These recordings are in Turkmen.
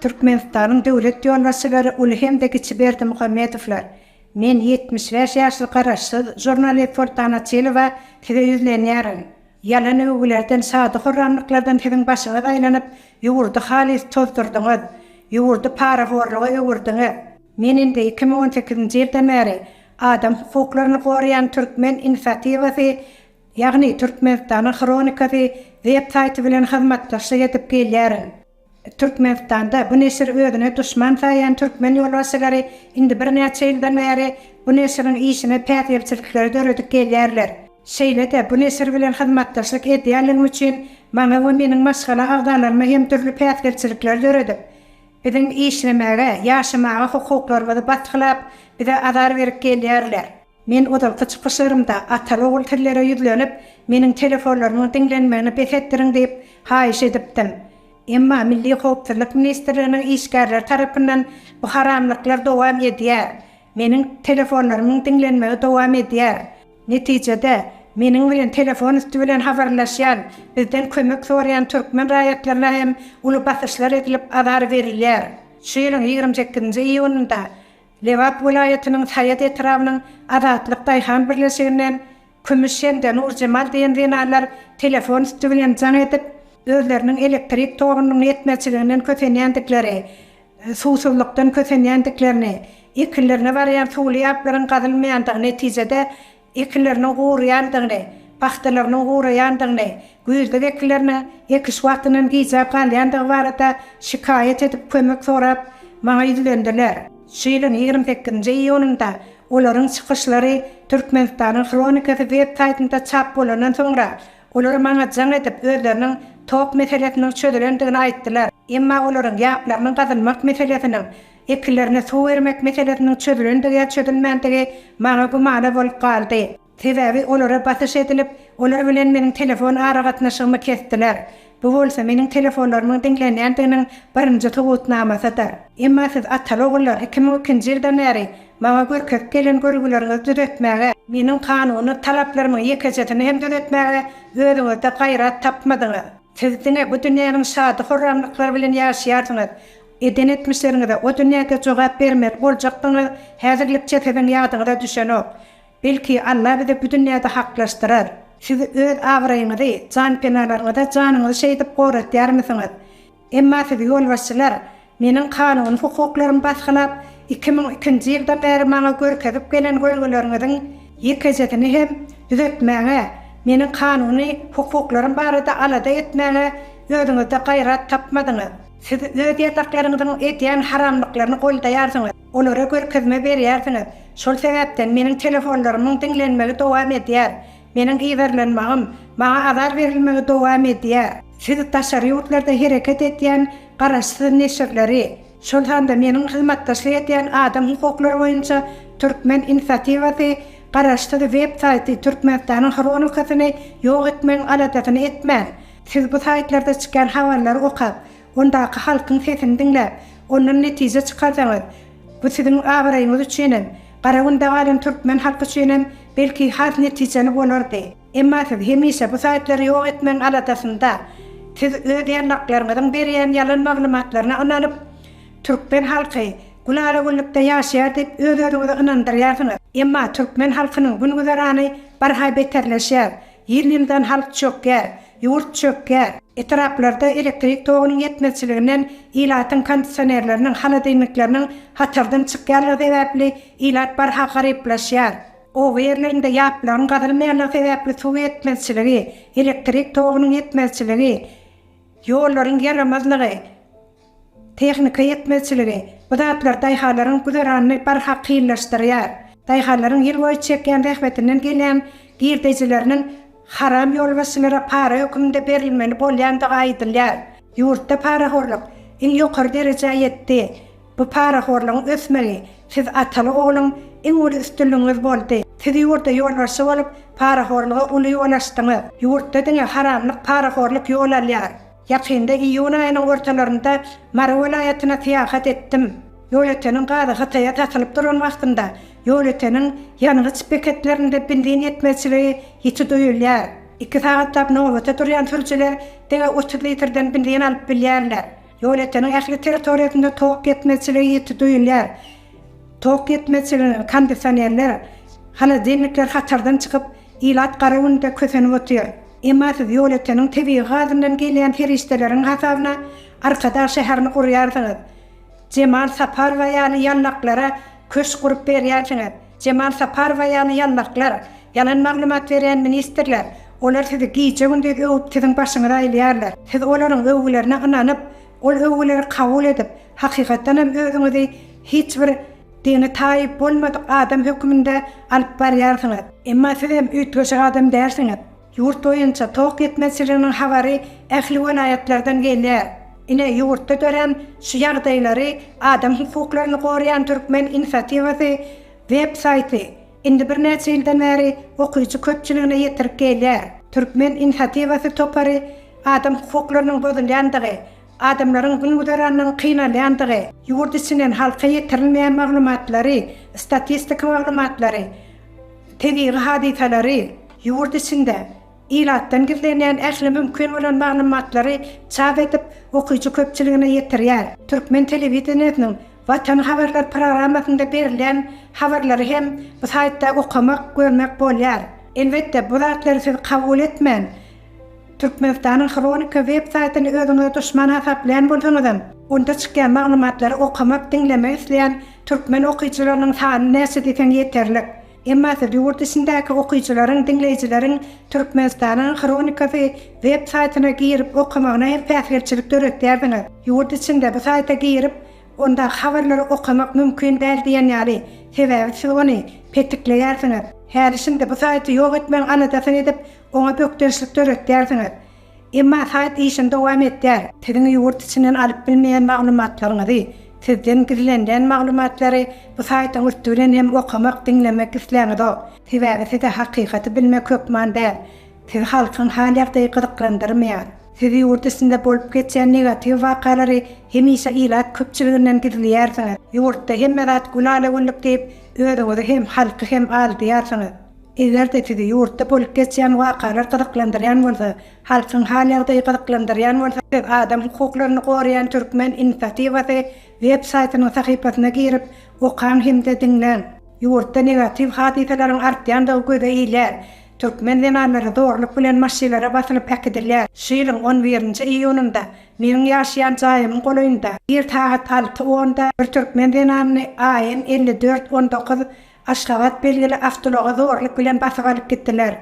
Türkmenistanyň döwlet ýolbaşçylary uly hem-de kiçi Berdimuhamedowlar, Men ýetmiş bäş ýaşly garaşsyz žurnalist Soltan Açylowa size ýüzlenýärin. Ýalan öwgülerden, şady-horramlyklardan siziň başyňyz aýlanyp, ýurdy halys tozdurdyňyz. Ýurdy parahorluga öwürdiňiz. Men indi iki müň on sekizinji ýyldan bäri adam hukuklaryny goraýan Türkmen inisiatiwasy, ýagny Türkmenistanyň hronikasy web saýty bilen hyzmatdaşlyk edip gelýärin. Türkmenistanda bu neşiri özüne duşman saýýan türkmen ýolbaşçylary indi birnäçe ýyldan bäri bu neşiriň işine päsgelçilikleri döredip gelýärler. Şeýle-de bu neşir bilen hyzmatdaşlyk edýänligim üçin maňa we meniň maşgala agzalaryma hem dürli päsgelçilikleri döredip, Biziň işlemäge, ýaşamaga hukuklarymyzy basgylap, bize azar berip gelýärler. Men ozalky çykyşlarymda ata-ogul sizlere ýüzlenip, meniň telefonlarymyň diňlenmegini bes etdiriň diýip, haýyş edipdim. Emma Milli howpsuzlyk ministrliginiň işgärleri tarapyndan bu haramlyklar dowam edýär. Meniň telefonlarymyň diňlenmegi dowam edýär. Netijede, meniň bilen telefon üsti bilen habarlaşýan, bizden kömek soraýan türkmen raýatlaryna hem uly basyşlar edilip, azar berilýär. Şu ýylyň ýigrimi sekizinji iýunynda Lebap welaýatynyň Saýat etrabynyň Azatlyk daýhan birleşiginden Kümüş hem-de Nurjemal diýen zenanlar telefon üsti bilen jaň edip, özleriniň elektrik togunyň ýetmezçiliginden kösenýändikleri, suwsuzlykdan kösenýändiklerini, ekinlerine barýan suwly ýaplaryň gazylmaýandygy netijede ekinleriniň guraýandygyny, pagtalarynyň guraýandygyny, güýzlük ekinleriniň ekiş wagtyndan gijäp galýandygy barada şikaýat edip, kömek sorap maňa ýüzlendiler. Şu ýylyň ýigrimi sekizinji iýunynda olaryň çykyşlary Türkmenistanyň hronikasy web saýtynda çap bolandan soňra, Olar maňa jaň edip, özleriniň tok meselesiniň çözülendigini aýtdylar. Emma olaryň ýaplarynyň gazylmak meselesiniň, ekinlerine suw bermek meselesiniň çözülendigi ýa çözülmändigi maňa gümana bolup galdy. Sebäbi olara basyş edilip, olar bilen meniň telefon aragatnaşygymy kesdiler. Bu bolsa meniň telefonlarymyň diňlenýändiginiň birinji subutnamasydyr. Emma siz ataly-ogullar iki müň ikinji ýyldan bäri maňa görkezip gelen görgüleriňizi düzetmäge, meniň kanuny talaplarymyň ýekejesini hem düzetmäge özüňizde gaýrat tapmadyňyz. Siz diňe bu dünýäniň şady-horramlyklary bilen ýaşaýarsyňyz. Eden etmişleriňize o dünýäde jogap bermeli boljakdygyňyz häzirlikçe siziň ýadyňyza düşenok. Belki Alla bizi bu dünýäde haklaşdyrar. Siz öz abraýyňyzy, janpenalaryňyza janyňyzy şeýdip goratýarmysyňyz? Emma sizi ýolbaşçylar meniň kanuny hukuklarymy basgylap, iki müň ikinji ýyldan bäri maňa görkezip gelen görgüleriňiziň ýekejesini hem düzetmäge, meniň kanuny hukuklarym barada alada etmäge özüňizde gaýrat tapmadyňyz. Siz öz ýataklaryňyzyň edýän haramlyklaryny goldaýarsyňyz. Olara görkezme berýärsiňiz. Şol sebäpden meniň telefonlarymyň diňlenmegi dowam edýär. Meniň yzarlanmagym, maňa azar berilmegi dowam edýär. Siz daşary ýurtlarda hereket edýän garaşsyz neşirleri, şol sanda meniň hyzmatdaşlyk edýän adam hukuklary boýunça Türkmen inisiatiwasy garaşsyz web saýty Türkmenistanyň hronikasyny ýok etmegiň aladasyny etmän, siz bu saýtlarda çykýan habarlary okap, Ondaky halkyň sesini diňläp, ondan netije çykarsaňyz, bu siziň abraýyňyz üçin hem, Garagünde galan türkmen halky üçin hem belki has netijeli bolardy. Emma siz hemişe bu saýtlary ýok etmegiň aladasynda. Siz öz ýarlaklaryňyzyň berýän ýalan maglumatlaryna ynanyp, türkmen halky gülala-güllükde ýaşaýar diýip öz-özüňizi ynandyrýarsyňyz. Emma türkmen halkynyň gün-güzerany barha beterleşýär. Ýyl-ýyldan halk çökýär. Ýurt çökýär. Etraplarda elektrik togunyň ýetmezçiliginden ilatyň kondisionerleriniň, holodilnikleriniň hatardan çykýanlygy sebäpli ilat barha garyplaşýar. Oba ýerlerinde ýaplaryň gazylmaýanlygy sebäpli suw ýetmezçiligi, elektrik togunyň ýetmezçiligi, ýollaryň ýaramazlygy, Tehnika ýetmezçiligi, bu zatlar daýhanlaryň güzeranyny barha kynlaşdyrýar. Daýhanlaryň ýyl boýy çekýän zähmetinden gelýän girdejileriniň haram ýolbaşçylara para höküminde berilmeli bolýandygy aýdylýar. Ýurtda parahorluk iň ýokary derejä ýetdi. Bu parahorlugyň ösmegi siz ataly ogluň iň uly üstünligiňiz boldy. Siz ýurda ýolbaşçy bolup parahorluga uly ýol açdyňyz. Ýurtda diňe haramlyk parahorluk ýol alýar. Ýakynda iýun aýynyň ortalarynda Mary welaýatyna syýahat etdim. Ýolöteniň gazy Hytaýa satylyp duran wagtynda ýolöteniň ýangyç beketlerinde benzin ýetmezçiligi ýiti duýulýar. Iki sagatlap nobata durýan sürüjiler diňe otuz litrden benzin alyp bilýärler. Ýolöteniň ähli territoriýasynda tok ýetmezçiligi ýiti duýulýar. Tok ýetmezçiliginiň kondisionerler, holodilnikler hatardan çykyp, ilat gara günde kösenip otyr. Emma siz ýolöteniň tebigy gazyndan gelýän serişdeleriň hasabyna Arkadag şäherini gurýarsyňyz. Jemal Saparowa ýaly ýallaklara köşk gurup berýärsiňiz. Jemal Saparowa ýaly ýallaklar, ýalan maglumat berýän ministrler, olar sizi gije-gündiz öwüp siziň başyňyzy aýlaýarlar. Siz olaryň öwgülerine ynanyp, Ol öwgüleri kabul edip, hakykatdan hem özüňizi hiç bir dini taýyp bolmadyk adam höküminde alyp barýarsyňyz. Emma siz hem üýtgeşik adam dälsiňiz. Ýurt boýunça tok ýetmezçiliginiň habary ähli welaýatlardan gelýär. Ine, ýurtda dörän şu ýagdaýlary Adam hukuklaryny goraýan türkmen inisiatiwasy web-saýty Indi birnäçe ýyldan bäri okyjy köpçüligine ýetirip gelýär. Türkmen inisiatiwasy topary adam hukuklarynyň bozulýandygy, adamlaryň gün-güzeranynyň kynalýandygy, ýurt içinden halka ýetirilmeýän maglumatlary, statistika maglumatlary, tebigy hadysalary ýurt içinde, Ilatdan gizlenýän ähli mümkin bolan maglumatlary çap edip, okyjy köpçüligine ýetirýär. Türkmen telewideniýesiniň Watan habarlar programmasynda berilýän habarlary hem bu saýtda okamak, görmek bolýar. Elbetde, bu zatlary siz kabul etmän, Türkmenistanyň Hronika web saýtyny özüňize duşman hasaplaýan bolsaňyzam, onda çykýan maglumatlary okamak, diňlemek isleýän türkmen okyjylarynyň sany näçe diýseň ýeterlik. Emmasy ýurt içindäki okyjylaryň, diňleýjileriň Türkmenistanyň hronikasy web saýtyna girip okamagyna hem päsgelçilik döretýärsiňiz. Ýurt içinde bu saýta girip, onda habarlary okamak mümkin däl diýen ýaly, sebäbi siz ony petikleýärsiňiz. Häli-şindi bu saýty ýok etmegiň aladasyny edip, oňa bökdençlik döretýärsiňiz. Emma saýt işini dowam etdýär. Siziň ýurt içinden alyp bilmeýän maglumatlaryňyzy, sizden gizlenilen maglumatlary bu saýtyň üsti bilen hem okamak, diňlemek isläňizok. Sebäbi size hakykaty bilmek hökman däl. Sizi halkyň hal-ýagdaýy gyzyklandyrmaýar. Siz ýurt içinde bolup geçýän negatiw wakalary hemişe ilat köpçüliginden gizleýärsiňiz. Ýurtda hemme zat gül-ala-güllük diýip, özüňizi hem, halky hem aldaýarsyňyz. Eger-de sizi ýurtda bolup geçýän wakalar gyzyklandyrýan bolsa, halkyň hal-ýagdaýy gyzyklandyrýan bolsa, siz adam hukuklaryny goraýan türkmen inisiatiwasy web saýtynyň sahypasyna girip, okaň hem-de diňläň. Ýurtda negatiw hadysalaryň artýandygy göze ilýär. Türkmen zenanlary zorluk bilen maşylara basylyp äkidilýär. Şu ýylyň on birinji iýunynda meniň ýaşaýan jaýymyň golaýynda, ir sagat alty onda bir türkmen zenanyny AN elli dört on dokuz Aşgabat belgili awtoulaga zorluk bilen basyp alyp gitdiler.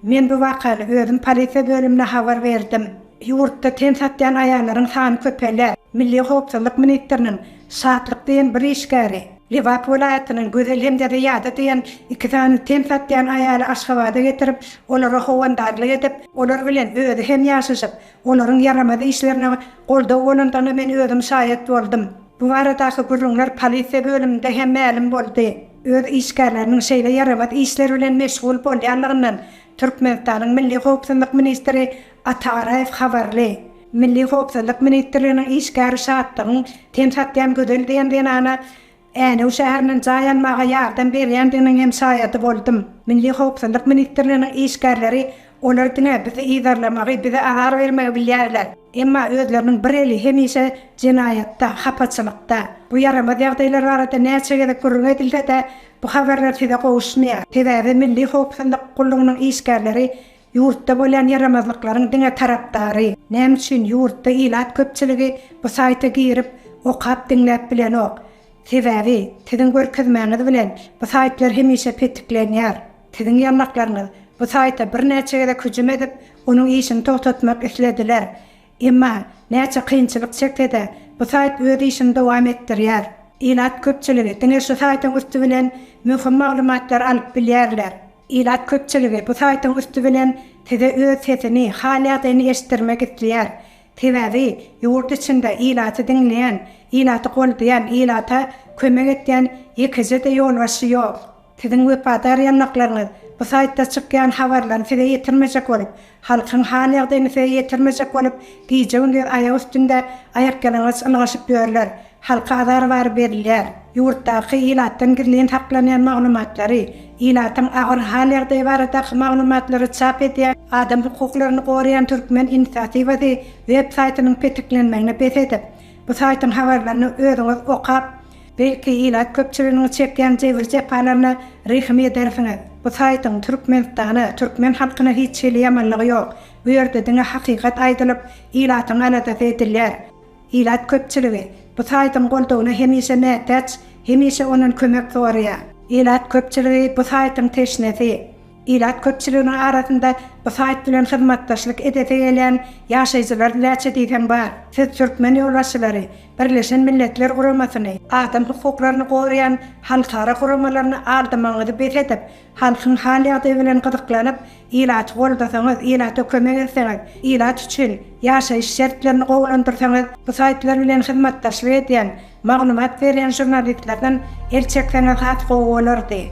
Men bu wakany özüm polisiýa bölümine habar berdim. Ýurtda ten satýan aýallaryň sany köpelýär. Milli howpsuzlyk ministriniň Şatlyk diýen bir işgäri Lebap welaýatynyň Gözel hem-de Zyýada diýen iki sany ten satýan aýaly Aşgabada getirip, olara howandarlyk edip, olar bilen özi hem ýaşaşyp, olaryň ýaramaz işlerine goldaw bolandygyna men özüm şaýat boldum. Bu baradaky gürrüňler polisiýa bölüminde hem mälim boldy. Öz işgärleriniň şeýle ýaramaz işler bilen meşgul bolýanlygyndan Türkmenistanyň Milli howpsuzlyk ministri Ata Garaýew habarly. Milli howpsuzlyk ministrliginiň işgäri Şatlygyň ten satýan Gözel diýen zenana Änew şäherinden jaý almaga ýardam berýändiginiň hem şaýady boldum. Milli howpsuzlyk ministrliginiň işgärleri olar diňe bizi yzarlamagy, bize azar bermegi bilýärler. Emma özleriniň bir eli hemişe jenaýatda, hapaçylykda. Bu ýaramaz ýagdaýlar barada näçe gezek gürrüň edilse-de, bu habarlar size gowuşmaýar. Sebäbi Milli howpsuzlyk gullugynyň işgärleri ýurtda bolýan ýaramazlyklaryň diňe tarapdary. Näme üçin ýurtda ilat köpçüligi bu saýta girip, okap, diňläp bilenok? Sebäbi, siziň görkezmäňiz bilen, bu saýtlar hemişe petiklenýär. Siziň ýanlaklaryňyz bu saýta birnäçe gezek hüjüm edip, onuň işini togtatmak islediler. Emma, näçe kynçylyk çekse-de, bu saýt öz işini dowam etdirýär. Ilat köpçüligi diňe şu saýtyň üsti bilen möhüm maglumatlary alyp bilýärler. Ilat köpçüligi bu saýtyň üsti bilen size öz sesini, hal-ýagdaýyny eşitdirmek isleýär. Sebäbi, ýurt içinde ilaty diňleýän, ilaty goldaýan, ilata kömek edýän ýekeje-de ýolbaşçy ýok. Siziň wepadar ýanlaklaryňyz bu saýtda çykýan habarlaryny size ýetirmejek bolup, halkyň hal-ýagdaýyny size ýetirmejek bolup, gije-gündiz aýak üstünde aýakýalaňaç ylgaşyp ýörler. Halka azar bary berilýär. Ýurtdaky ilatdan gizlin saklanýan maglumatlary, ilatyň agyr hal-ýagdaýy baradaky maglumatlary çap edýän, Adam hukuklaryny goraýan Türkmen inisiatiwasy web saýtynyň petiklenmegini bes edip, bu saýtyň habarlaryny özüňiz okap, Belki ilat köpçüliginiň çekýän jebir-jepalaryna rehim edersiňiz. Bu saýtyň Türkmenistana, türkmen halkyna hiç hili ýamanlygy ýok. Bu ýerde diňe hakykat aýdylyp, ilatyň aladasy edilýär. Ilat köpçüligi bu saýtyň goldawyna hemişe mätäç, hemişe ondan kömek soraýar. Ilat köpçüligi bu saýtyň teşnesi. Ilat köpçüliginiň arasynda bu saýt bilen hyzmatdaşlyk edesi gelýän ýaşaýjylar näçe diýseň bar. Siz türkmen ýolbaşçylary, Birleşen Milletler Guramasyny, adam hukuklaryny goraýan halkara guramalaryny aldamagyňyzy bes edip, halkyň hal-ýagdaýy bilen gyzyklanyp, ilaty goldasaňyz, ilata kömek etseňiz, ilat üçin ýaşaýyş şertlerini gowulandyrsaňyz, bu saýtlar bilen hyzmatdaşlyk edýän Maglumat berýän žurnalistlerden el çekseňiz has gowy bolardy.